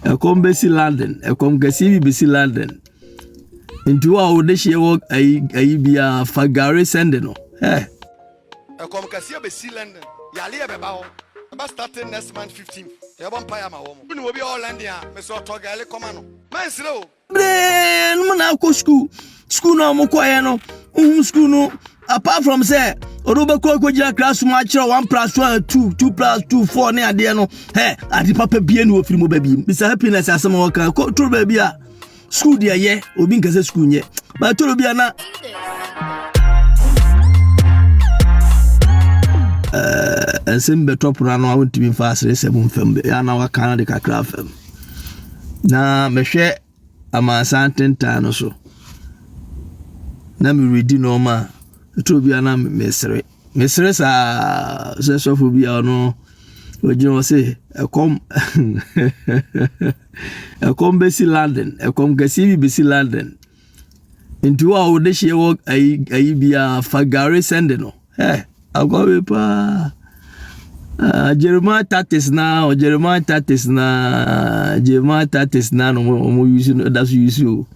Ɛkɔm bɛsi London. Ɛkɔm kɛseɛ bi bɛsi London. Nti wo a wode hyeɛ wɔ ayi ayi biara fa gare sɛnde no. Hey. Ɛkɔm kɛseɛ bɛsi London. Yareɛ bɛba hɔ. Ɛbɛ starting next month 15th. Yɛbɔ mpaeɛ ama wɔn. Wone obi a ɔwɔ London a, mesrɛ ɔtɔ gare kɔma no. Mansere o, no mu na akɔ sukuu sukuu no a wɔkɔeɛ no wohu sukuu no apart from sɛ ɔde wobɛkɔ akɔgyina class mu akyerɛ one plus one two two plus two four ne adeɛ no ɛ ade papa bie ne wɔfiri mu ba biem mr happiness asɛm a wɔka kɔtoro baabi a sukuu deɛ yɛ obi nka sɛ sukuu nyɛ batoro bi a na ɛnsɛm bɛtɔ pono ano a wontumi mfa aseresɛm mfam ana waka no de kakra fam na mehwɛ amansan tentan no so na meredi nneɛma a ɛtɔ bi a na mesere mesere saa sɛ sɔfo bi a ɔno ogyina hɔ sɛ ɛkɔm ɛkɔm bɛsi london ɛkɔm kɛseɛ bi bɛsi london Nti wo a wode hyeɛ wɔ ayi ayi biara fa gari sɛnde no ɛ akɔwe paa ah, jeremiah tactics na o jeremiah tactics na jeremiah tactics na no ɔmo yusu no da so yusu o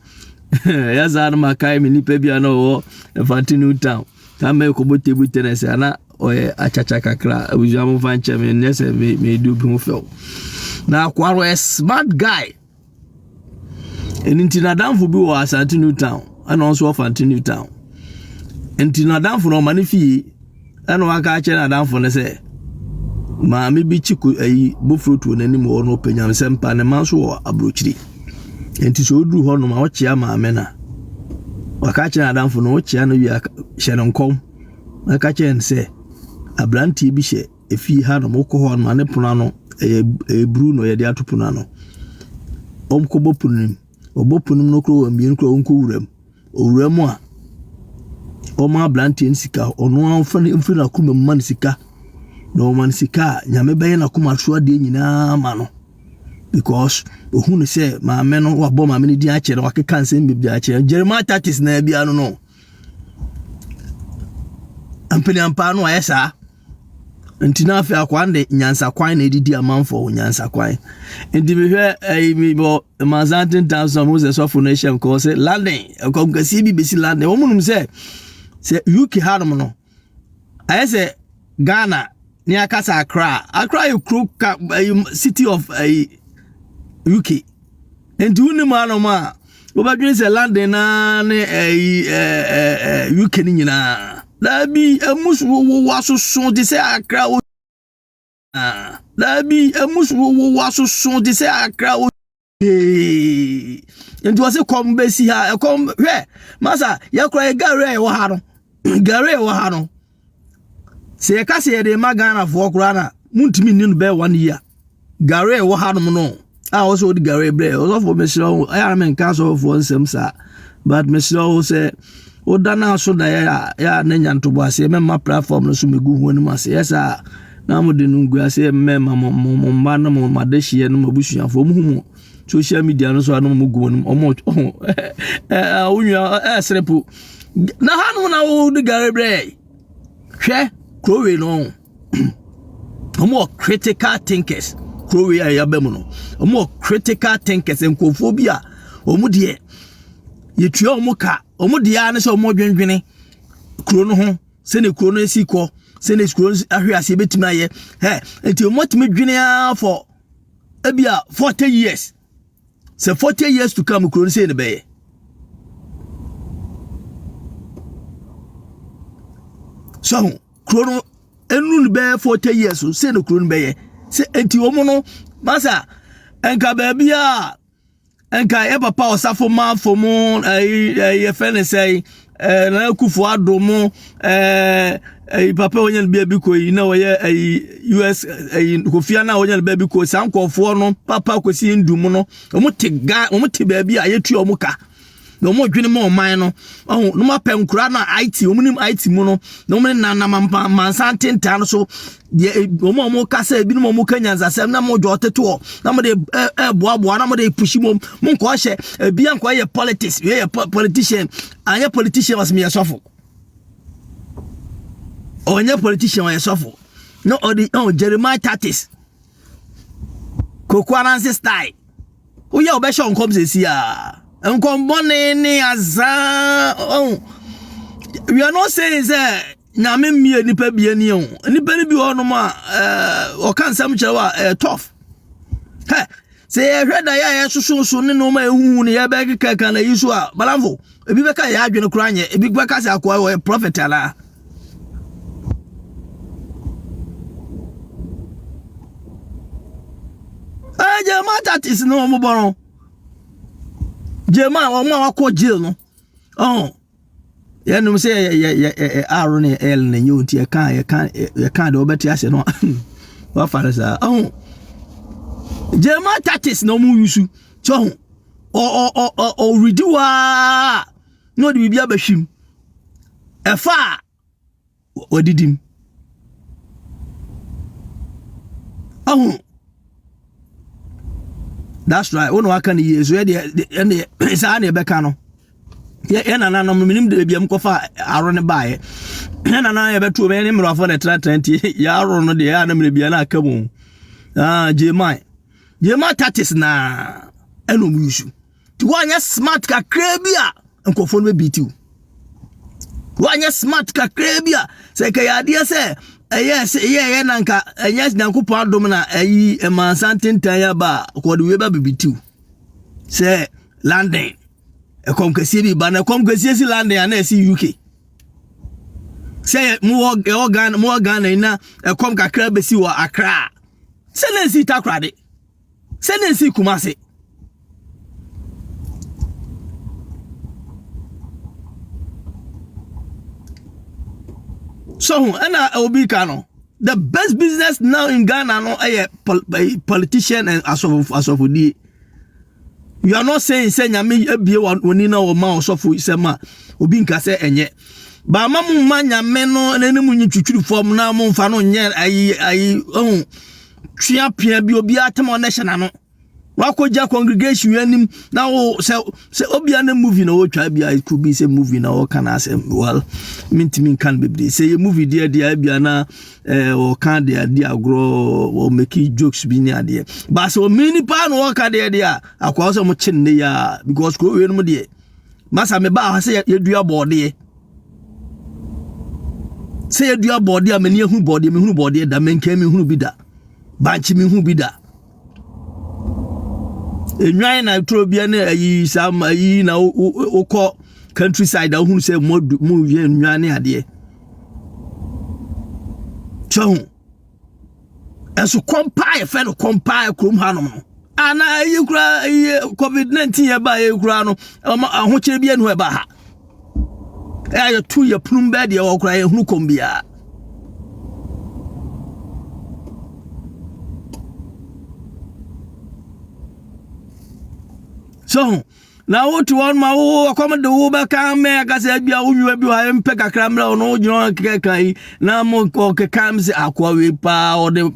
ɛyɛ saa no ma kae me nipa bi a na ɔwɔ ɛfante new town saa mɛ kɔbɔ table tennis ana ɔyɛ akyakya kakra abusua mo nfa nkyɛn me nyɛ sɛ me me du bi ho fɛw na akoa no ɛ smart guy. Ɛno nti n'adamfo bi wɔ Asante New Town ɛna ɔnso wɔ Fante New Town. Nti n'adamfo no ɔma ne fie ɛna waka akyerɛ n'adamfo no sɛ maame bi kyi ko ayi bofuro tuo n'anim wɔ no ɔpɛ nyamsɛm pa ne ma nso wɔ aburokyiri. Nti sɛ ɔduru hɔ nom a ɔkyea maame na waka akyerɛ n'adamfo no ɔkyea no wie hyɛ no nkɔm na ka kyerɛ no sɛ aberanteɛ bi hyɛ Efi ha nom wokɔ hɔ no, ne pono ano, ɛyɛ ɛyɛ bruu na wɔde ato pono ano. Wɔkɔbɔ pono no mu. Wɔbɔ pono no mu no koraa wɔn mmienu koraa wɔnkɔ wura mu. Owura mu a, wɔma aberanteɛ no sika. Ɔno ara ɔfa no mfiri n'akoma mu ma no sika. Na wɔma no sika a, Nyame bɛyɛ n'akoma so adeɛ nyinaa ama no. Because ohu no sɛ maame no wabɔ maame no din akyerɛ no, wakeka nsɛm bebree akyerɛ no. Jeremiah Tatis na bia no no. Ampaniampaa no ayɛ saa. Nti na afei akoa no de nyansakwan na ɛdidi amanfoɔ ho nyansakwan. Nti mehwɛ ɛyi mi bɔ mansan tentan so a mo sɛ sɔfo no hyɛ nkɔɔ sɛ London ɛkɔm kɛseɛ bi bɛsi London. Wɔn nom sɛ sɛ UK hanom no ayɛ sɛ Ghana ne akasa Accra. Accra yɛ kuro ka ɛyi city of ɛyi UK. Nti wonim anom a wobɛdwene sɛ London na ne ɛyi ɛɛ ɛɛ UK ne nyinaa daabi emu so wowo asoso te sɛ akra wo daabi emu so wowo asoso te sɛ akra wo ee nti wɔsi kɔm bɛsi ha ɛkɔm hwɛ masa yɛkora yɛ gare a ɛwɔ ha no gare a ɛwɔ ha no. Sɛ yɛka sɛ yɛde ma Ghanafoɔ koraa na montumi nni no bɛyɛ one year. Gare a ɛwɔ hanom no a wɔsɛ wɔde gare brɛ ɔsɔfoɔ mesrɛ wo ɛyɛ a menka asɔfoɔ nsɛm saa but mesrɛ wo sɛ woda no aso da yɛ a yɛ a na nya ntobo aseɛ mɛma platform no so megu ho anim ase yɛ saa na mode no ngu aseɛ mmɛma mo mo mma no mo madehyeɛ no mo abusuafoɔ mo hu mo social media no so a na mo gu mo anim ɔmo wonua ɛsere po na hanom na wɔde gare brɛ hwɛ kurowei no wɔn wɔ critical thinkers kurowei a yɛaba mu no wɔn wɔ critical thinkers nkurɔfoɔ bi a wɔn deɛ yɛtua wɔn ka wɔn deɛ ara ne sɛ wɔn dwendwene kuro no ho sɛnea kuro no si kɔ sɛnea kuro no ahwe aseɛ bɛtumi ayɛ ɛ nti wɔn atumi dwene ara for ebi a forty years. sɛ forty years to come kuro no sei ne bɛyɛ so ho kuro no ɛnu no bɛyɛ forty years so sei ne kuro no bɛyɛ sɛ enti wɔn no masa nka baabi a nka yɛ papa ɔsafo manfo mu ɛyi ɛyi yɛfɛ ne sɛ ɛɛ eh, na akufo ado mo ɛɛ eh, ɛyi eh, papa wɔnyɛ no baabi kɔ yi na wɔyɛ ɛyi us ɛyi kofia na wɔnyɛ no baabi kɔ saa nkɔfoɔ no papa kɔsi ndu mu no wɔn te ga wɔn te baabi a yɛtua wɔn ka na wɔn dwene mu ɔman no ɔho na wɔn apɛ nkura na it wɔn nim it mu no na wɔn nenam mansan tentaa no so deɛ e, wɔn a wɔn kasa ebinom wɔn ka nyansasɛm na wɔn dwa ɔtetoɔ na wɔn de ɛɛboaboa na wɔn de pushi mu mo nkɔ hyɛ ebi ankɔ yɛ politics yɛ yɛ politician anyɛ politician wɔsi mi yɛ sɔfo ɔnyɛ politician ɔyɛ sɔfo na ɔde ɔn jeremiah tactics koko anansi style woyɛ ɔbɛhyɛ nkɔm sɛ si a nkɔmbɔne ne azaa ɔn we are not saying sɛ. Nyame mmie nipa bia ni o. Nipa no bi wɔ nom a ɔka eh, nsɛm kyerɛ wa eh, tough. Hɛ, sɛ yɛhwɛ da yɛ a yɛsososo ne nom a ɛhuhu ne yɛbɛkeka ka na yi so a, balamfo, ebi bɛka yɛ adwene koraa nyɛ, ebi bɛka sɛ akoa ɔyɛ prophet anaa. Ɛɛ gyema tatis no wɔn bɔ no, gyema wɔn a wakɔ jail no, ɔn. yɛnom sɛ yɛyɛ r ne l na ɛnyɛ nti yɛka yɛka yɛka deɛ wɔbɛte ase no wafa no saa ɔho german tactics na wɔn yusu kyɛ ho ɔredi hɔ ara na ɔde biribi abɛhwim ɛfa a wadidi mu. Ahu. That's right. Wo na waka ne yie so yɛ deɛ ɛne saa na ɛbɛka no. Yɛ yɛ nananom no menim de baabi a mokɔfa aro no baeɛ. Yɛ nananom yɛ bɛtuo mɛ ne mmerɛfoɔ na ɛtenatena nti yɛ aro no deɛ yɛ anam ne bia na aka mu. Ah, Jemai. Jemai tatis na ɛna ɔmo yusu. Woanyɛ smart kakraa bi a nkurɔfoɔ no bɛbiiti wo. Woanyɛ smart kakraa bi a sɛ ɛkɛyɛ adeɛ sɛ ɛyɛ sɛ ɛyɛ ɛyɛ na nka ɛnyɛ nyankopɔn adom na ɛyi ɛmaa nsantentan yɛ ba a kɔde wie ba bibiiti wo. Sɛ London ɛkɔm kɛseɛ bi ba na ɛkɔm kɛseɛ si London ana ɛsi UK. Sɛ mowɔ ɛwɔ Ghana mowɔ Ghana yi na ɛkɔm kakra bɛsi wɔ Accra. Sɛ na ɛsi Takoradi. Sɛ na esi Kumase. So ho ɛna obi ka no the best business now in Ghana no ɛyɛ eh, politician and asɔfo asɔfodie you are not saying sɛ nyame abie wɔni na wɔma ɔsɔfo sɛm a obi nka sɛ ɛnyɛ baama mu ma nyame no n'anim nyi twitwiri fam na mo nfa no nyɛ ayi ayi ɛho. Tua pia bi obiara tem ɔno hyɛ n'ano. Wakɔgya congregation yɛn anim na wo sɛ sɛ obia ne movie na wɔtwa bia it could be sɛ movie na wɔka no asɛm well mentumi nka no bebree sɛ yɛ movie deɛ deɛ bia na eh, wɔka deɛ adi agorɔ wɔmɛki jokes bi ne adeɛ baa sɛ ɔmini paa na wɔka deɛ deɛ a akoa sɛ mokye nne yɛ a because kuro wei nom deɛ masa mebaa ha sɛ yɛdua bɔɔdeɛ sɛ yɛdua bɔɔdeɛ a m'ani ahunu bɔɔdeɛ mehunu bɔɔdeɛ da mɛnkan mehunu bi da bankye mehunu bi da enwan na turo bia ne ayi saa ma ayi na wokɔ country side a wohunu sɛ mo yɛ nnwan ne adeɛ kyɛ ho ɛso kɔmpaa yɛfɛ no kɔmpaa kurom hanom no ana ɛyi kura ɛyi covid nineteen yɛ ba ɛyi kura no ɔmo ahokyere bi enu ɛba ha ɛyɛ yɛ tu yɛ punum bɛɛ deɛ ɔkura yɛ hunu kɔm biara. So Na wote hɔ ma wo ɔkɔm de wo bɛka mɛ aka sɛ bia wo nwiwa bi wɔ mpɛ kakra mmerɛ wo no wogyina hɔ kɛkɛka yi na mo kɛka m sɛ akoa wei paa ɔde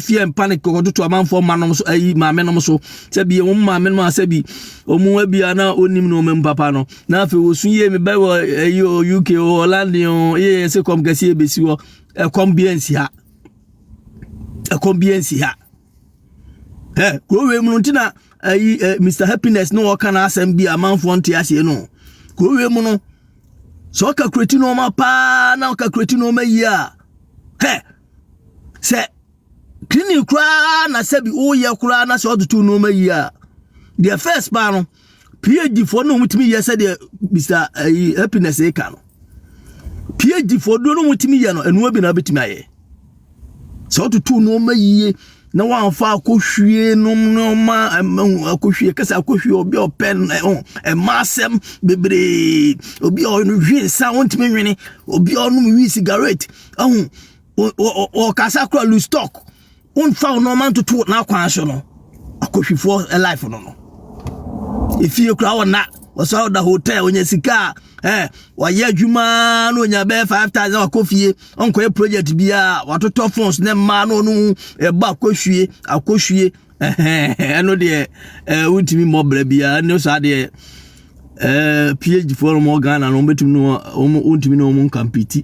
fie mpa ne kɔtoto amanfoɔ ma nom so ayi maame nom so sɛ bi wɔn maame nom a sɛ bi wɔn abia na onim no wɔn papa no na afei wɔsu yie mebɛ wɔ ɛyi o UK o London o yɛ yɛ se kɔm kɛseɛ bɛsi hɔ ɛkɔm bi ansi ha ɛkɔm bi ansi ha ɛ kuro wei mu no nti na ɛyi eh, ɛ eh, mr happiness ne wɔka n'asɛm bi amanfoɔ nte aseɛ no kuro wei mu no sɛ ɔka kureti nneɛma paa na ɔka kureti nneɛma yie a hɛ sɛ clinic koraa na sɛbi woyɛ koraa na sɛ ɔde to nneɛma yie a deɛ first paa no. PhD foɔ no wɔtumi yɛ sɛdeɛ Mr ayi happiness eka no PhD foɔ duro no wɔtumi yɛ no ɛnoa bi na wɔbɛtumi ayɛ sɛ ɔtutu nneɛma yie na wɔamfa akɔhwie nom nneɛma akɔhwie kɛsɛ akɔhwie obi a ɔpɛ ɛma asɛm bebree obi a ɔnwe nsa wɔntumi nwene obi a ɔnom wi sigaret ɛho ɔkasa kora lu stock womfa wo nɔɔma ntoto n'akwan so no akɔhwifoɔ life no no efie kura wɔ na wɔsɔ ɔda hotel onya sika a ɛɛ wɔayɛ adwuma na onya bɛyɛ five thousand wakɔ fie ɔnkɔyɛ project biara watotɔ phones ne mmaa na ɔno ɛbɔ akɔhwie akɔhwie ɛhɛn ɛno deɛ ɛɛ wontumi mmɔ brɛ biara ɛno saa deɛ. ɛɛ phd foɔ no wɔn ghana no wɔbɛtumi no wɔn wɔntumi no wɔn nkampiti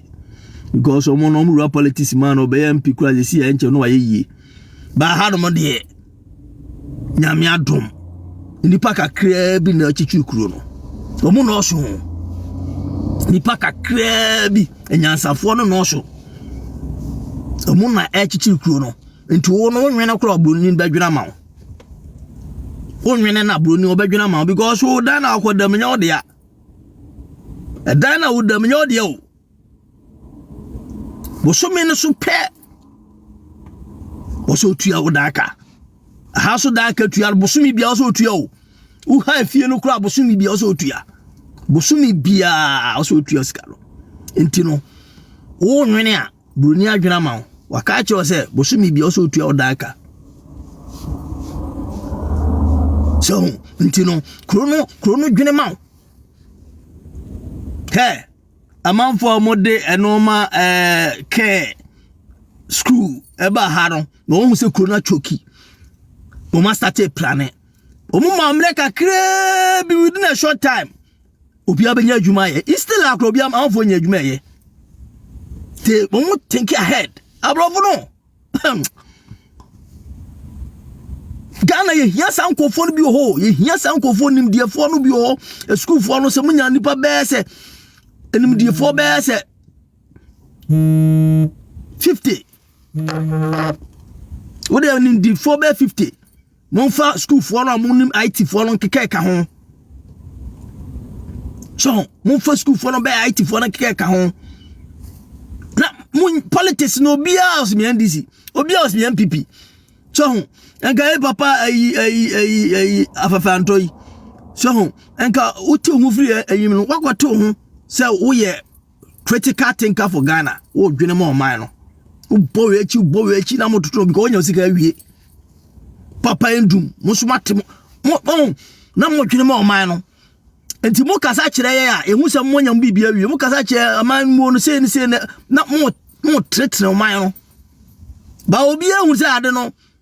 because wɔn no wɔn wura politics man no ɔbɛyɛ mp kura yɛ si yɛ nkyɛn no wayɛ yie baa ha nom deɛ nyame adom nipa kakraa bi na akyikyiri kuro no wɔn nɔɔso nipa kakraa bi anyansafoɔ no nɔɔso wɔn na ɛkyikyiri kuro no nti wɔn no wɔn nwene kora ɔbɔnni bɛdwena ma wɔn. wonwene na buroni ɔbɛdwene ama wo because wo dan na akɔ dam nyɛ wo dea ɛdan na wo dam nyɛ wo dea o bosome no so pɛ wɔsɛ otua wo dan ka aha so dan ka tua bosome bia wɔsɛ otua o woha efie no koraa bosome bia wɔsɛ otua bosome biara wɔsɛ otua sika no nti no wonwene a Buroni adwene ama wo. Waka akyerɛ wo sɛ bosome bia ɔsɛ otua wo dan ka. Sɛ ho nti no kuro no kuro no dwene ma wo. Hɛ amanfoɔ a wɔde nneɛma ɛɛ kɛɛ sukuu ɛba ha no na wɔn sɛ kuro no atwoki. Wɔn asate plane. Wɔn ma mmerɛ kakraa bi within a short time. obiara bɛnya adwuma ayɛ instead akora obiara amanfoɔ nya adwuma ɛyɛ te wɔn mo think ahead aborɔfo no ghana yɛhia saa nkurɔfoɔ no bi wɔ hɔ yɛhia saa nkurɔfoɔ nimdeɛfoɔ no bi wɔ hɔ asukuufoɔ no sɛ monya nnipa bɛɛ sɛ animdeɛfoɔ bɛɛ sɛ 50 wode animdeɛfoɔ bɛɛ 50 momfa sukuufoɔ no a monim ITfoɔ no nkeka ɛka ho so momfa sukuufoɔ no bɛyɛ ITfoɔ no nkeka ɛka ho na mo politics no obiara ɔsɛ me NDC obiara ɔsɛ me NPP so ho nka yɛ papa ayi ayi ayi ayi afafantɔ yi so ho nka wote ho firi ayim no wakɔte ho sɛ woyɛ critical thinker for ghana wo dwene ma ɔman no wobɔ wei akyi wobɔ wei akyi na mototo because wonya sika awie papa ndum mo so mate mo mo na mo dwene ma ɔman no nti mo kasa kyerɛ yɛ a ehu sɛ mo nya mo biribi awie mo kasa kyerɛ ɔman mu no sei ne sei na mo mo tretere ɔman no ba obi ehu sɛ ade no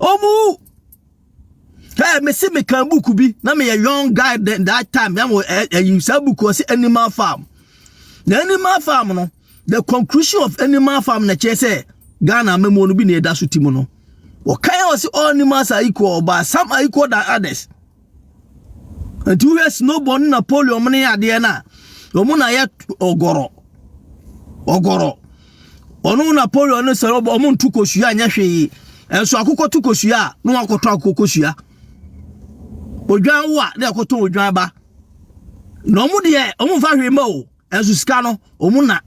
Omu. Hey, me se me kan book bi na me a young guy then that time na mo eh, eh, saa book ɔse animal farm. The animal farm no the conclusion of animal farm na kyerɛ sɛ Ghana mɛmu no bi na ɛda so ti mu no. Wɔkan ɔse all animals are equal but some are equal than others. nti wohwɛ snowball ne napoleon mo ne adeɛ no a wɔn na yɛ ɔgɔrɔ ɔgɔrɔ ɔno napoleon ne sɛ wɔn nto kosua nyɛ hwee ɛnso akokɔ to kosua a na wakɔtɔ akokɔ kosua odwan wo a na ɛkɔtɔ odwan ba na wɔn deɛ wɔn nfa hwee ma o Nanso sika no, wɔn na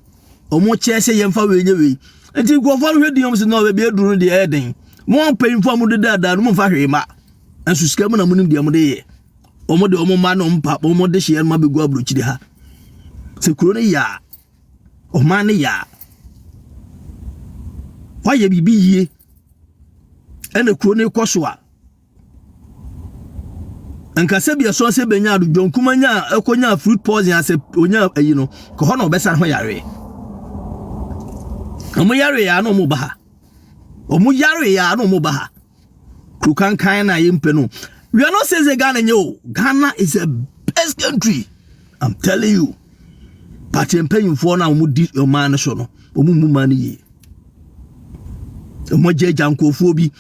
wɔkyɛ sɛ yɛmfa wei nyɛ wei. Nti nkurɔfoɔ no hwɛ din wɔn sɛ na baabi aduru no deɛ ɛyɛ den. Mo mpanyinfoɔ a mode daadaa no momfa hwee ma. Nanso sika mu na monim deɛ mode yɛ. Wɔn de wɔn mma ne wɔn pa wɔn de hyeɛ no ma bɛgu aburokyiri ha. Sɛ kuro no yɛ a, ɔman no yɛ a, wɔayɛ biribi yie ɛna kuro no kɔ so a, nka sɛ bi ɛsɔn sɛ benya do john kuma nya ɛkɔ nya fruit poison asɛ onya ayi no kɔ hɔ na ɔbɛsan ho yare ɔmo yare ya na ɔmo ba ha ɔmo yare ya na ɔmo ba ha kuro kankan na yɛ mpɛ no we are not saying say ghana nye o ghana is a best country i'm telling you but yɛn mpanyinfoɔ na ɔmo di ɔman no so no ɔmo mu ma no yie ɔmo agya agya nkurɔfoɔ bi.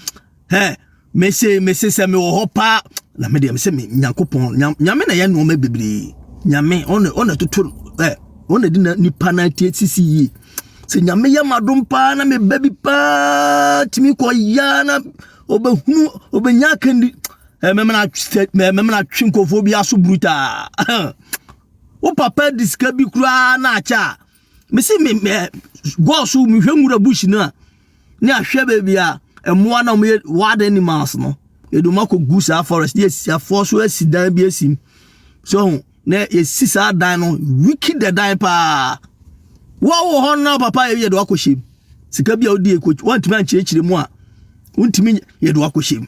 Hɛ, mese, mese sɛ mewɔ hɔ paa. Na me deɛ mese me Nyankopɔn, Nyame na yɛ nneɛma bebree. Nyame, ɔna ɔna toto ɛ, ɔna di na nipa na tie sisi yie. Sɛ Nyame yɛ m'adom paa na meba bi paa tumi kɔ yaa na ɔbɛhunu, ɔbɛnya akandi. Ɛ, mɛmena atwe, mɛmena atwe nkɔfoɔ bi aso brutaa. Wo papa di sika bi koraa na akyɛ a, mese me eh, bɔɔl so mehwɛ nwura bush no a ne ahwɛ baabi a mmoa na wɔyɛ wild animals no yɛde wɔn akɔ gu saa forest ne yɛsi afoɔ so asi dan bi asim so ho na yɛsi saa dan no wiki da dan paa wɔwɔ hɔ no na papa yɛ yɛde wakɔhyɛ mu sika bi a wodi wɔntumi ankyerɛkyerɛ mu a wontumi yɛde wakɔhyɛ mu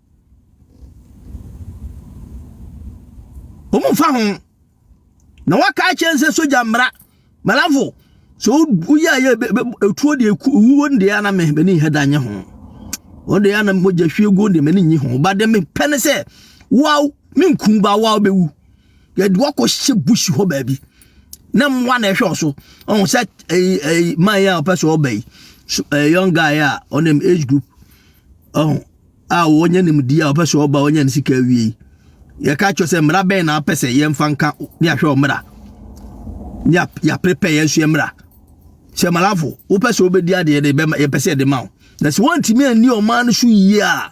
wɔn mfa ho na waka akyɛn sɛ sogya mmara malafo sɛ woyɛ a yɛ etuo deɛ ewuo no deɛ anam mɛ ni hɛ da nye ho wɔn deɛ anam mogya hwie guo deɛ mɛ ni nye ho ba deɛ mɛ pɛ ne sɛ waw me nkun ba waw bɛwu yɛde wakɔ hyɛ bush hɔ baabi na mmoa na ɛhwɛ ɔso ɔho sɛ ɛyi ɛyi man yɛ a ɔpɛ sɛ ɔba yi so ɛyɛ young guy a ɔnam age group ɔho. a wɔnya nimdeɛ a wɔpɛ sɛ wɔba wɔnya ne sika awie yi yɛka kyerɛ sɛ mmara bɛn na apɛ sɛ yɛmfa nka ne ahwɛ wɔ mmara ne yɛaprepɛ yɛn so mmara sɛ malafo wopɛ sɛ wobɛdi adeɛ de bɛma yɛpɛ sɛ yɛde ma wo na sɛ woantumi anni ɔman no so yie a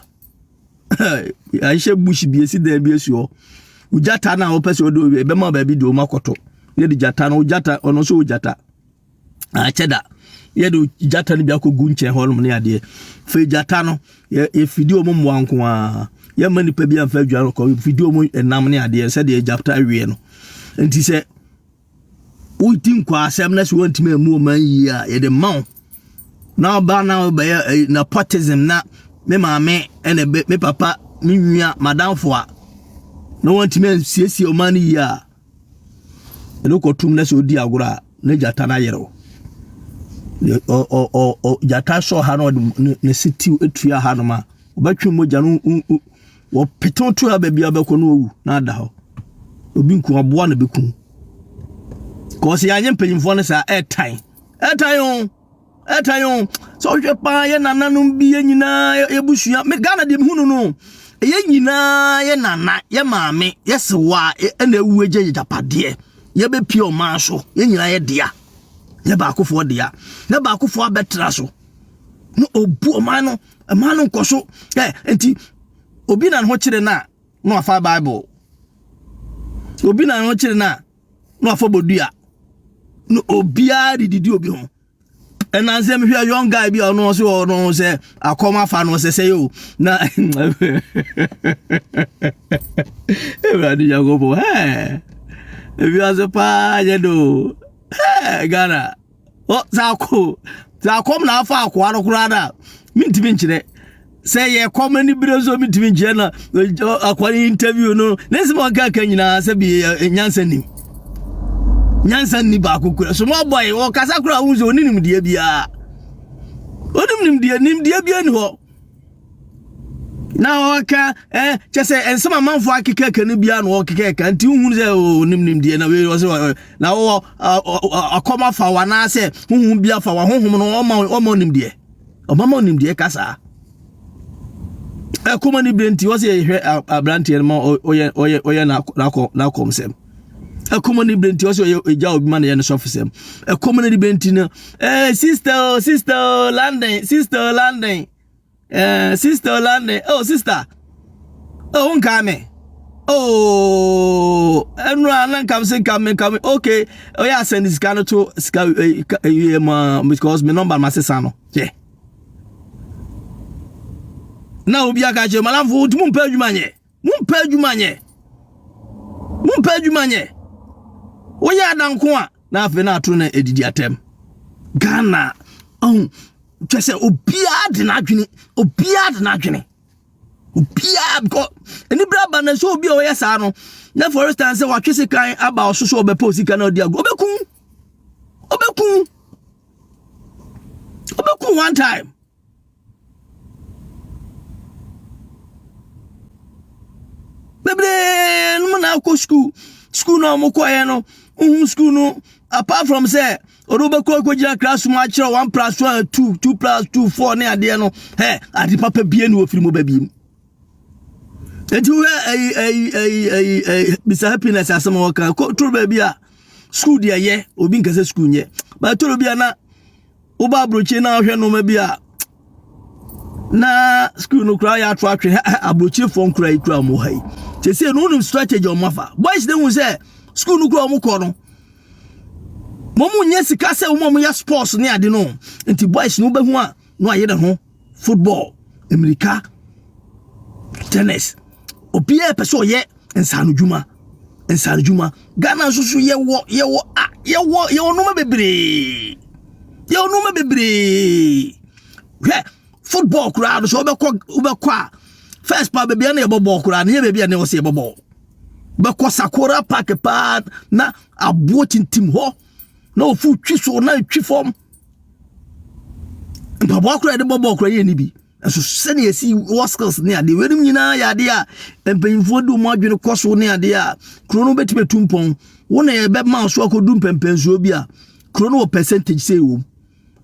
yɛahyɛ bush bi asi dan bi asi hɔ wogyata no a wopɛ sɛ wode owie bɛma baabi de wɔm akɔto yɛde gyata no wogyata ɔno nso wogyata akyɛ da yɛde gyata no bi akɔgu nkyɛn hɔ nom ne adeɛ fei gyata no yɛfidi ɔmo mmoa nko a yɛma nipa bi amfa adwa no kɔ yɛfidi ɔmo nam ne adeɛ sɛdeɛ gyata awie no nti sɛ woti nkɔ asɛm na sɛ wɔntumi amu ɔma yie a yɛde ma wo na ɔba na ɔbɛyɛ eh, na potism na me maame ɛna me papa me nua madamfo a na wɔntumi ansiesie ɔma no yie a ɛna ɔkɔtum na sɛ ɔdi agorɔ a na gyata no ayere wo gyata sɔ ha na ɔde ne se tiw atua ha nom a ɔbɛtwe mogya no wɔpetew to a baabi a bɛkɔ no ɔwu na ada hɔ obi nku aboa na bɛku kɔɔ sɛ yɛanyɛ mpanyimfoɔ no saa ɛtan ɛtan o ɛtan o sɛ wohwɛ paa yɛ nananom bi yɛ nyinaa yɛbusua me ghana deɛ mehu no no yɛ nyinaa yɛ nana yɛ maame yɛ sewa ɛna awu agya yɛ gyapadeɛ yɛbɛpie ɔman so yɛ nyinaa yɛ dea yɛ baakofoɔ dea yɛ baakofoɔ abɛtra so na ɔbu ɔman no ɔman no nkɔ so ɛ nti obi na ne ho kyerɛ no a na wafa bible obi na ne ho kyerɛ no a na wafa bodua na obiara de didi obi ho ɛna nsɛm hwɛ young guy bi a ɔno ɔsɛ ɔno sɛ akɔm afa no ɔsɛ sɛ yɛ o na ewurade nyankopɔn ɛɛ ewiase paa yɛ do ɛɛ ghana. Ɔ dza ko dza kɔm na afa akoa no koraa no a mentumi nkyerɛ. Sɛ yɛ kɔm ani bere nso mentumi nkyerɛ na akoa no interview no ne nsɛm a ɔkaka nyinaa sɛ bi nyansa nim. Nyansa nni baako kura. So mo boy ɔkasa koraa wohu sɛ ɔne nimdeɛ biara. Ɔnim nimdeɛ, nimdeɛ biara ni hɔ. na ɔka ɛ kyɛ sɛ nsɛm amanfoɔ akekɛkɛ no biara na ɔkekɛkɛ nti wohunu sɛ ɔnim nimdeɛ na wei ɔsɛ na wɔ akɔm afa wo anaasɛ honhom bi afa wo honhom no ɔma ɔma nimdeɛ ɔma ma nimdeɛ ka saa ɛkɔma ne berɛ nti ɔsɛ yɛhwɛ aberanteɛ no ma ɔyɛ ɔyɛ ɔyɛ n'akɔm sɛm ɛkɔm ne bere nti ɔsɛ ɔyɛ egya obi ma ne yɛ ne sɔfo sɛm ɛkɔm ne bere nti no ɛɛ sista o sista o london sista o london ɛɛ sista o london o sista o oh, nkaa me o ɛnura oh, na nkam se nkam me nkam okay ɔyɛ oh, asɛn sika no to sika ɛɛ ɛɛ ɛɛ ma because me nɔmba ma sesa no yɛ. Yeah. na obi aka kyerɛ malamfo wotumi mpɛ adwuma nyɛ Wompɛ adwuma nyɛ. Wompɛ adwuma nyɛ. Woyɛ adanko a na afei na atoro na edidi atɛm. Ghana ɔn kyɛ sɛ obiara de n'adwene obiara de n'adwene obiara bkɔ anibere aba na nso obi a ɔyɛ saa no na for instance sɛ watwe sekan aba ɔso so ɔbɛpɛ osika na ɔde agu ɔbɛkum ɔbɛkum ɔbɛkum one time. bebree nom na akɔ sukuu sukuu no a wɔkɔeɛ no wohu sukuu no apart from sɛ ɔde wobɛkɔ akɔgyina class mu akyerɛ one plus one two two plus two four ne adeɛ no ɛ ade papa bie ne wɔfiri mu ba biem nti wohwɛ ayi ayi ayi ayi ayi mr happiness asɛm a wɔka toro baabi a sukuu deɛ yɛ obi nkɛsɛ sukuu nyɛ bɛtoro bi a na woba aburokyi na ahwɛ nneɛma bi a na sukuu no koraa yɛ ato atwe aburokyifoɔ nkora yi kura wɔn ha yi sese no wonim strategy wɔn afa boys de hu sɛ sukuu no kura wɔn kɔ no wɔn nyɛ sika sɛ wɔn a wɔyɛ sports ne ade no nti boys no bɛhu a na wɔayɛ ne ho. football mmirika tennis obiara pɛ sɛ ɔyɛ nsaanodwuma nsaanodwuma ghana nso so yɛwɔ yɛwɔ a yɛwɔ yɛwɔ nneɛma bebree yɛwɔ nneɛma bebree hwɛ football koraa no sɛ wobɛkɔ wobɛkɔ a first pa baabi a na yɛbɔ bɔɔl koraa no yɛ baabi a na ɛwɔ sɛ yɛbɔ bɔɔl bɛkɔ sakora park paa na aboɔ tintim hɔ na ofu twi so na twi fam. Mpaboa koro a yɛde bɔ bɔɔl koro yɛ ne bi. Nso sɛnea esi wɔ skills ne adeɛ weinom nyinaa yɛ adeɛ a mpanyinfoɔ de wɔn adwene kɔ so ne adeɛ a kuro no bɛtumi atu mpɔn wo na yɛbɛma so akɔdu mpɛmpɛnsoɔ bi a kuro no wɔ percentage sei wɔ mu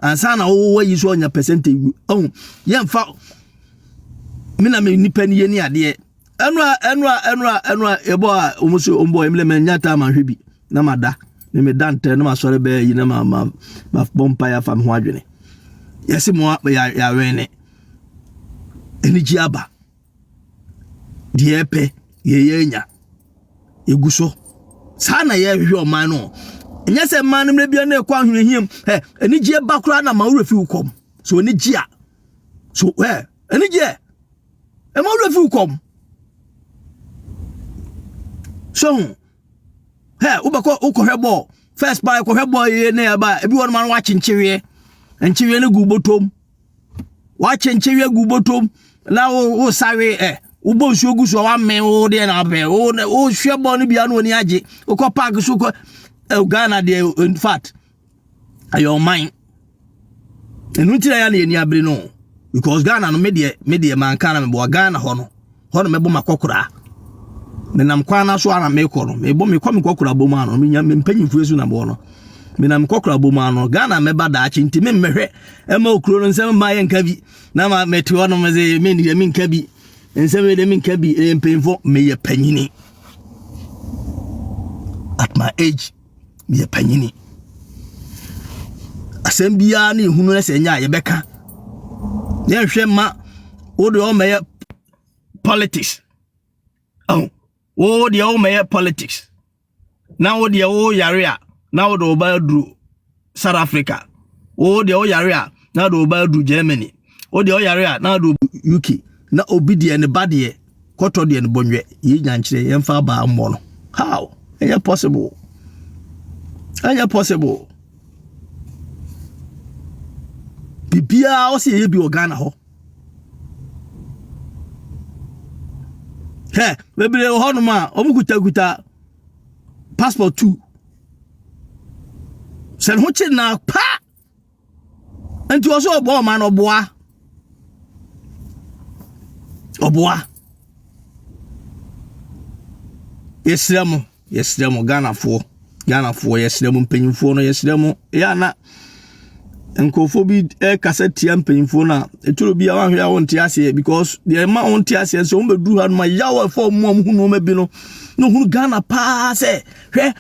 ansa na wowɔ yi so ɔnya percentage gu ɔho yɛmfa me na me nipa ni yɛ ne adeɛ ɛnura ɛnura ɛnura ɛnura ɛbɔ a wɔn so wɔn bɔ ɛmlɛ mɛ nya taa ma hwɛ bi na mada me meda ntɛm na masɔre bɛyɛ yi na ma ma ma bɔ mpaeɛ afa me ho adwene yɛse mo yɛawɛn ne anigye aba deɛ ɛpɛ yɛyɛ anya yɛgu so saa na yɛhwehwɛ ɔman no ɛnyɛ sɛ mmaa no mmerɛ bia na ɛkɔ ahwenehiam ɛ anigyeɛ ba koraa na ma worɛ fi wo kɔm so anigye a so ɛ anigyeɛ ɛma worɛ fi wo kɔm so ho hɛ wobɛkɔ wokɔhwɛ bɔɔl first paa ɛkɔhwɛ bɔɔl yie ne ɛba ebi wɔ nom ano wakyenkyeweɛ nkyeweɛ no gu bɔtɔm wakyenkyeweɛ gu bɔtɔm na wo wo sawe ɛ wobɔ nsuo gu so a wamɛn wo deɛ na abɛn wo wohwɛ bɔɔl no bia na wɔni agye wokɔ park so kɔ eh, Ghana deɛ in fact ɛyɛ ɔman ɛno nti na yɛ na yɛni abere no because ghana no medeɛ medeɛ manka na meboa ghana hɔ no hɔ no mɛbɔ makɔkoraa menam kwan no so ana mekɔ no mebɔ mekɔ mekɔkora bɔ mu ano menya mpanyimfoɔ so na bɔ no menam mekɔkora bɔ mu ano ghana mɛba daakye nti memmɛhwɛ ɛma okuro no nsɛm mma yɛnka bi na ma mete hɔ no mese mendeɛ menka bi nsɛm yɛ deɛ menka bi ɛyɛ mpanyimfoɔ meyɛ panyini at my age meyɛ panyini asɛm biara ne ehunu sɛ ɛnyɛ a yɛbɛka yɛnhwɛ ma wode ɔmɛyɛ politics oh, wo deɛ womɛyɛ politics na wo deɛ woyare a na wode wo ba aduro south africa wo deɛ woyare a na de ɔba adu germany wo deɛ ɔyare a na de uk na obi deɛ ne ba deɛ kɔtɔ deɛ ne bɔnwɛ yɛ nyankyerɛ yɛmfa abaa mmɔ no how ɛnyɛ possible ɛnyɛ possible biribiara ɔsɛ yɛyɛ bi wɔ ghana hɔ hɛ bebree wɔ hɔnom a wɔkutakuta passport two sɛ ne ho kye na pa nti ɔsɛ ɔbɔ ɔma no ɔboa ɔboa yɛsrɛ mo yɛsrɛ mo ghanafoɔ ghanafoɔ yɛsrɛ mo mpanyimfoɔ no yɛsrɛ mo yɛ ana Nkurɔfoɔ bi rekasa tia mpanyinfoɔ no a ɛtɔ bi a wɔahwɛ a wɔnte aseɛ because deɛ ɛma wɔnte aseɛ sɛ wɔn bɛduru ha nom a yaw a ɛfa wɔn mu a wɔhu nneɛma bi no na wɔhunu Ghana paa sɛ hwɛ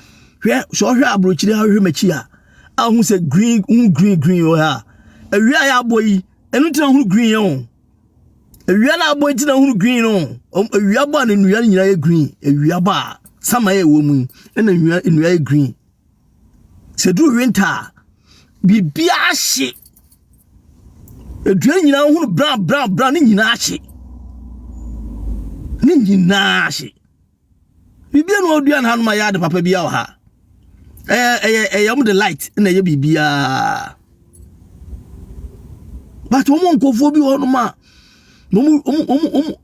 hwɛ sɛ ɔhwɛ aburokyire ahwɛ m'akyi a ahu sɛ green hu green green wɔ ha a awia a yɛabɔ yi ɛno nti na wɔhunu green yɛn o awia na abɔ nti na wɔhunu green no awia bɔ a na nnua nyinaa yɛ green awia bɔ a sama yɛ wɔ mu yi ɛna nnua nnua yɛ green. Sɛ duru winter a, biribiara hye. Aduan nyinaa hunu brown brown brown ne nyinaa hye. Ne nyinaa hye. Biribiara na ɔdua no ha no ma yɛ ade papa biara wɔ ha. Ɛyɛ ɛyɛ ɛyɛ wɔn de light na ɛyɛ biribiara. But wɔn nkurɔfoɔ bi wɔ hɔ nom a wɔn wɔn wɔn wɔn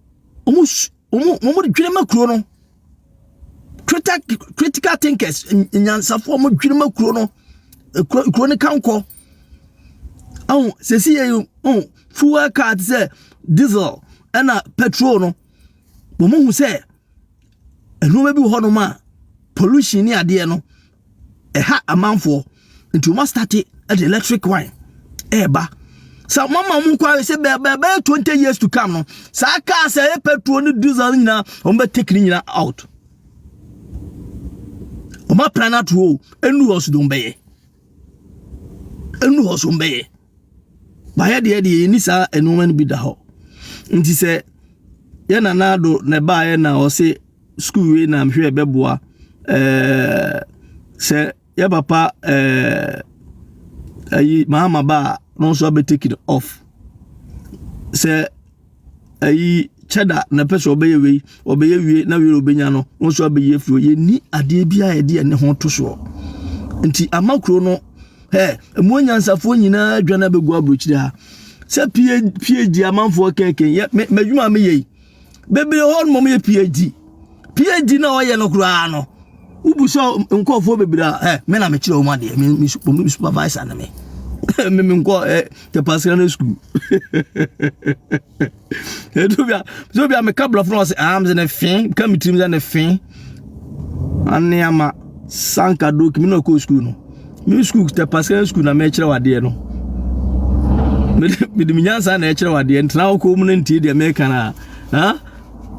wɔn wɔn wɔn dwirima kuro no critical critical thinkers nyansafoɔ wɔn dwirima kuro no kuro kuro no kankɔ ɔn sɛsi yɛ yi ɔn fuel car ti sɛ diesel ɛna petrol no wɔn hu sɛ nneɛma bi wɔ hɔnom a pollution ne adeɛ no. ɛha amanfoɔ nti wɔn astate ɛde electric wine ɛɛba sɛ wɔn ama wɔn kwan sɛ bɛɛbɛɛ twenty years to come no saa kaa sɛ ɛyɛ petrol ne diesel no nyinaa wɔn bɛ take ne nyinaa out wɔn apɛn ato o enu hɔ so de wɔn bɛyɛ enu hɔ so wɔn bɛyɛ. bayɛ deɛ deɛ yɛni saa nnoɔma no bi da hɔ nti sɛ yɛ nana ado na ɛbaeɛ na ɔse sukuu wei na mehwɛ ɛbɛboa ɛɛ sɛ yɛ papa ɛɛ ayi mahama ba a na ɔnso abɛtake it off sɛ ayi kyɛda na pɛ sɛ ɔbɛyɛ wei ɔbɛyɛ wie na wei ɔbɛnya no wɔn nso abɛyi afiri yɛnni adeɛ bi a yɛde ɛne ho to soɔ nti ama kuro no ɛ ɛmu anyansafoɔ nyinaa adwa no abɛgu aburokyire ha sɛ phd amanfoɔ kɛkɛ yɛ m'adwuma a meyɛ yi bebree hɔ no mɔm yɛ phd phd na ɔyɛ no koraa no wobu sɛ nkurɔfoɔ bebree a ɛ me na mekyerɛ wɔn adeɛ me me sup- me supervisor na me me me nkɔ ɛ tɛpasira no sukuu ɛdu bi a so bi a meka borɔfo na ɔsɛ ah mesɛ ne fe ka me tirim sɛ ne fe aneama sanka doki me na ɔkɔɔ sukuu no me sukuu tɛpasira no sukuu na mekyerɛ wo adeɛ no mede mede me nyansa na ɛkyerɛ wo adeɛ ntena wo kɔn mu no ntie deɛ meka no a ha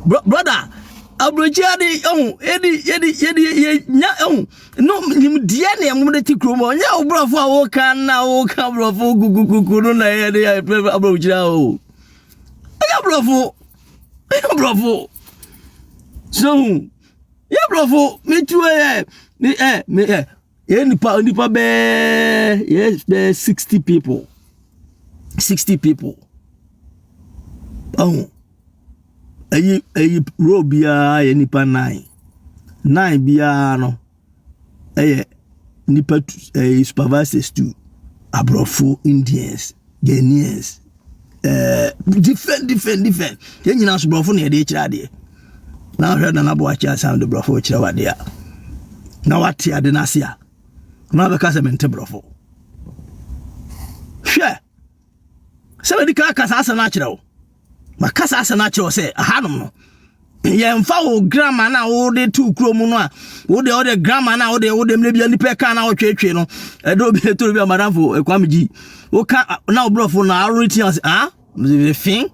Bro brother, aburokyire ade ehu edi edi edi yɛ nya ehu no nimdeɛ na ɛmo de ti kurom ɔnyɛ aburɔfo a wɔka na wɔka aburɔfo kukukuku no na ɛyɛ de yɛ pɛrɛ aburokyire awo ɛyɛ aburɔfo ɛyɛ aburɔfo so hu yɛ aburɔfo metu ɛyɛ me ɛ me ɛ. yɛyɛ nipa nipa bɛɛ yɛyɛ bɛɛ sixty people sixty people ɛho ɛyi ɛyi row biara yɛ nipa nine nine biara no ɛyɛ nipa tu ɛyɛ supervisors tu aborɔfo indians. Ghanaians, eh, different, different, different. Yɛn nyinaa so borɔfo na yɛde kyerɛ adeɛ. Na ahwɛ Nana Boakye asan de borɔfo kyerɛ wade a, na wate ade no ase a, na wabɛka sɛ mente borɔfo. Hwɛ, sɛ madi ka aka saa asɛm no akyerɛ wo. Maka saa asɛm no akyerɛ wo sɛ ahanom no yɛmfa wo grama no a wode to kuro mu no a wode wode grama no a wode wode mmerɛ bia nnipa ɛka no a wotwetwe no ɛdɛ obi ɛtoro bi a madamfo ɛkwame gyi woka na wobrɔfo no aworeti ase ah fin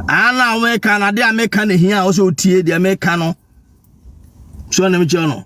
ah na wɔmɛka no adeɛ a mɛka no hia a wosɛ wotie deɛ mɛka no so na mekyerɛ no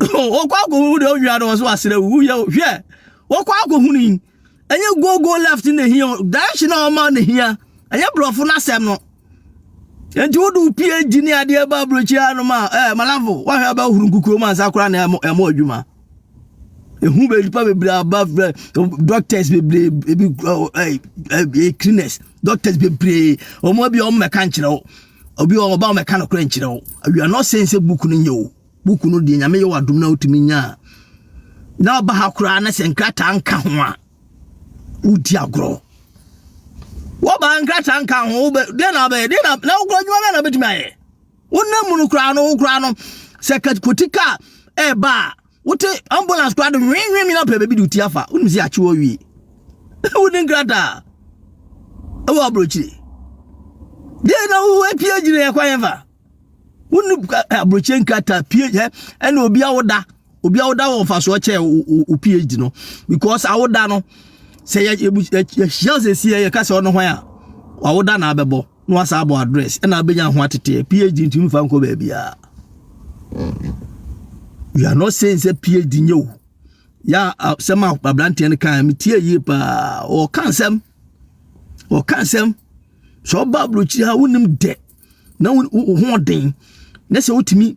wɔkɔ akɔhu deɛ ɔwia no wɔ so asrɛ wu yɛ hwɛ wɔkɔ akɔhu no yi ɛnyɛ go go left na hia direction a ɔma na hia ɛnyɛ borɔfo no asɛm no nti wode wo phd ne adeɛ ba aburokyi anom a eh, malafo woahwɛ abɛhoro nkukuo mu ansa koraa na ɛmɔ adwuma ɛhu bɛnipa bebree aba frɛ doctors bebree ebi cleaners doctors bebree ɔmo bi ɔmo mɛka nkyerɛ wo Obi wɔ hɔ ɔba ɔmɛka no korɛ nkyerɛ wo. We are not saying sɛ book no nyɛ o. Book no deɛ nyame yɛ wɔ adom na wotumi nya a. Na ɔba ha koraa na sɛ nkrataa nka ho a wodi agorɔ. Wɔba nkrataa nka ho wobɛ deɛ na wobɛyɛ deɛ na na wokora adwuma bɛn na wobɛtumi ayɛ. Wonam mu no koraa no wo koraa no sɛ kotika ɛɛba a wote ambulance koraa de nwenwen nyina pɛ baabi de wotia fa wonim sɛ akye wɔ wie wode nkrataa ɛwɔ aburokyire deɛ na wohu apue agyina yɛ kwan fa wone aburokyire nkrataa pue yɛ ɛna obi awoda obi awoda wɔ mfasoɔ kyɛ wo phd no because awoda no sɛ yɛhyia sɛ sie yɛka sɛ ɔno hwan a wawoda na abɛbɔ na wasa abɔ address ɛna abɛnya ho ateteɛ phd ntumi mfa nkɔ baabiaa we are not saying sɛ phd nyɛ o yɛ sɛm a abranteɛ no kan metie yie paa ɔka nsɛm ɔka nsɛm sɛ ɔba aburokyiri ha wonim dɛ na wo ho ɔden na sɛ wotumi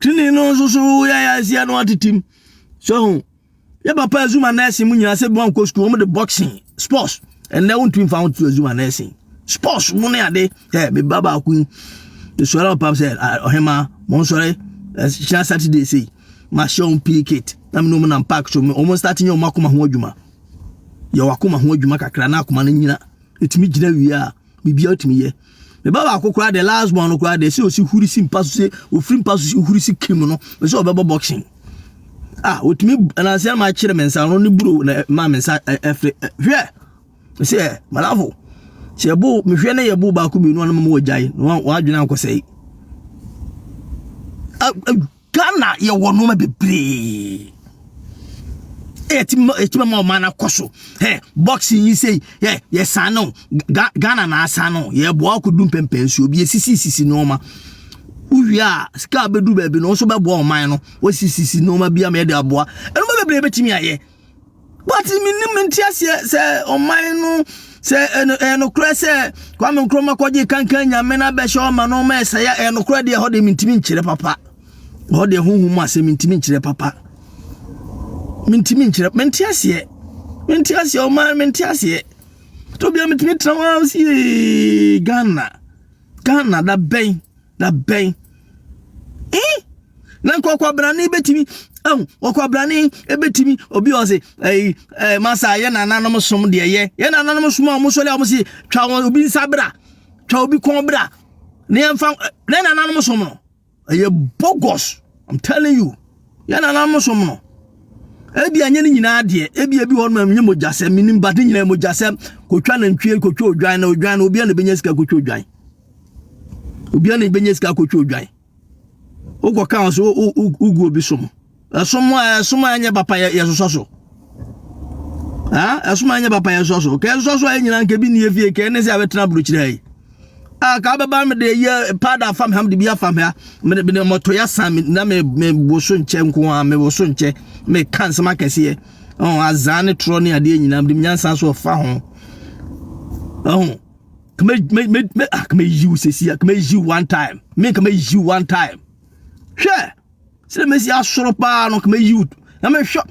Trenee no nso so yɛ yɛ asia no atetem. So ho. Yɛ papa azuma nursing mu nyina sɛ bi wankɔ school wɔn de boxing sports. Ɛnna wɔn tumi fa ho to azuma nursing. Sports mu ne ade. Ɛ me ba baako yi. Esɔre papa sɛ ɔhema mo nsɔre ɛhyɛ Saturday sei. Ma hyɛ wɔn pii kit. Na me no mo nam park so wɔn start nyɛ wɔn akoma ho adwuma. Yɛ wɔn akoma ho adwuma kakra na akoma no nyina. Etumi gyina wie a. biribiara otumi yɛ me ba baako koraa de last born no koraa de sɛ osi huri si mpa so sɛ ofiri mpa so si huri si kim no me sɛ ɔbɛbɔ boxing a otumi nansi ama akyerɛ me nsa no ne buro na ma me nsa ɛfɛ hwɛ me sɛ malafo sɛ ɛbo mehwɛ ne yɛbo baako mmienu anam mu wɔ gyae na wɔn adwene ankɔsɛe ghana yɛwɔ nnoɔma bebree ɛtumi ma ɔman no akɔ so ɛ boxing yi sei ɛ yɛsan no ghana na asan no yɛboa akɔdu mpɛmpɛn so obi ɛsisisisi nnoɔma wowie a sika bɛdu baabi no wo nso bɛboa ɔman no wɔsisisi nnoɔma bi ama yɛde aboa ɛnoma bebree bɛtumi ayɛ but menim nteaseɛ sɛ ɔman no sɛ ɛyɛ nokorɛ sɛ kwame nkrɔma kɔgye kankan nyame no abɛhyɛ ɔma no ɔma ɛsɛe a ɛyɛ nokorɛ deɛ ɛhɔ deɛ mentimi nkyerɛ papa ɛhɔ deɛ honhom mu asɛ mentimi nkyerɛ papa mentimi nkyerɛ mente aseɛ mente aseɛ ɔman mente aseɛ tobia metumi tena hɔ sie ghana ghana da bɛn na bɛn eh na nka ɔkwabrane bɛtumi ɛho ɔkwabrane bɛtumi obi ɔse ɛyi ɛɛ masa yɛ nananom som deɛ yɛ yɛ nananom som a wɔn sɔre a wɔn se twa wɔn obi nsa bra twa obi kɔn bra ne yɛn fa ne nananom som no ɛyɛ bogus i'm telling you yɛ nananom som no ebi anya ne nyinaa deɛ ebi ebi wɔn mu nye mogyasɛm minim ba ne nyinaa mogyasɛm kotwa nantwie kotwa odwan na odwan na obi a na ebɛnya sika kotwa odwan. obiara na ebenya sika akɔtwa odwan wokɔ kan so wogu obi som ɛsom a ɛsom a ɛnyɛ papa yɛsosɔ so ɛsom a ɛnyɛ papa yɛsosɔ so kɛ ɛsosɔ so a ɛnyina nkɛ bi nni efie kɛ ɛne sɛ abɛtena aburokyerɛ yi a ka bɛba me de yɛ paada afa me ha de bi afa me ha me de mɔtɔ yɛ asan me na me me bo so nkyɛ nko a me bo so nkyɛ me ka nsɛm akɛseɛ ɔn azaa ne torɔ ne adeɛ nyinaa de nyansa so ɔfa ho ɛho. Come me me me me ah come you say see come you one time. Me come you one time. Hwɛ. Sɛ me si asoro paa no come you. Na me hwɛ.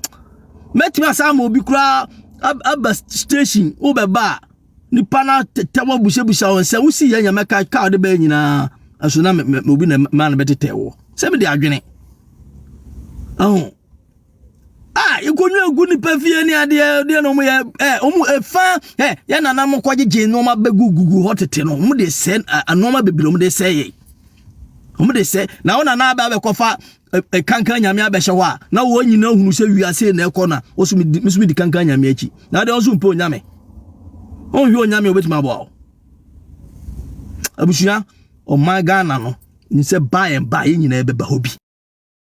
Mɛtumi asan ma obi koraa aba station wobɛba a nipa no tetɛ wɔ busabusa wɔn sɛ wosi yɛ nyame ka ka ɔde bɛyɛ nyinaa ɛso na obi na ma no bɛtetɛ wɔ sɛ mede adwene ɛho a nkonnwa gu nipa fie ne adeɛ deɛ na wɔn yɛ ɛ wɔn efa ɛ yɛn nana mo kɔ gyegye nneɛma bɛgu gugu hɔ tete no wɔn de sɛ nneɛma bebree wɔn de sɛ yɛ wɔn de sɛ na wɔn nana abɛ abɛkɔfa ɛ kankan nyame abɛhyɛ hɔ a na wɔn nyinaa hunu sɛ wiase na ɛkɔ na wɔn so mi di mi so mi di kankan nyame akyi na adeɛ wɔn so mpɛ onyame wɔn hwɛ onyame obetumi aboa wɔn abusua ɔman ghana no n sɛ by and by yɛn nyinaa bɛba hɔ bi.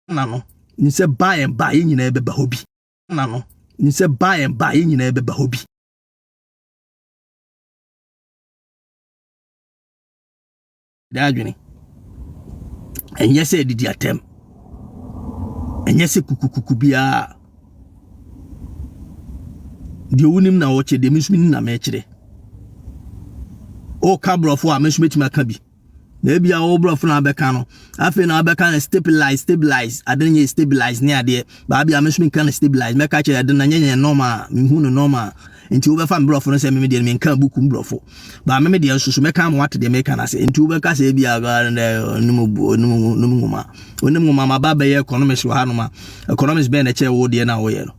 na no. Nim sɛ by and by yɛn nyinaa bɛba hɔ bi, na no. Nim sɛ by and by yɛn nyinaa bɛba hɔ bi. Ɛda adwene. Ɛnyɛ sɛ didi atɛm. Ɛnyɛ sɛ kukukuku biara. Deɛ wonim na wɔkyerɛ, deɛ me nso menim na mekyerɛ. Woka borɔfo a, me nso mɛtumi aka bi. na ebi a wɔwɔ borɔfo na abɛka no afei na abɛka no stabilize stabilize ade no yɛ stabilize ne adeɛ baabi a mesome nka no stabilize mɛka kyerɛ ɛde na nyɛ yɛn nɔɔma a mehu no nɔɔma a nti wobɛfa me borɔfo no sɛ meme deɛ menka buku mu borɔfo baa meme deɛ nso so mɛka ma wate deɛ meka no ase nti wobɛka sɛ ebi a ɔnim nwoma ɔnim nwoma ma ba bɛyɛ economics wɔ hanom a economics bɛn na ɛkyɛ wo deɛ na woyɛ no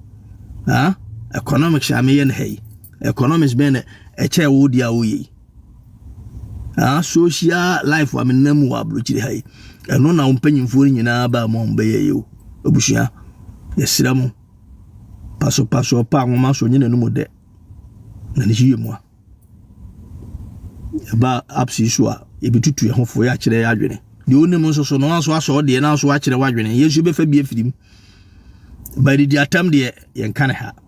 ha economics a meyɛ no ha yi economics bɛn na ɛkyɛ wo deɛ a woyɛ yi Aa social life a menam mu wɔ aburokyire ha yi, ɛno na wo mpanyinfoɔ no nyinaa baa mu a wɔbɛyɛ yɛ o. Abusua, yɛsrɛ mo, pasopaso ɔpa nwoma so nye n'anum dɛ, na ne yie mu a, ɛba apps yi so a, yɛbɛtutu yɛn ho fo, yɛakyerɛ yɛ adwene. Deɛ ɔnim nso so no, nso asɔ ɔdeɛ na nso akyerɛ w'adwene. Yɛn nso yɛbɛfa bi afiri mu. Baadidi atam deɛ, yɛnka ne ha.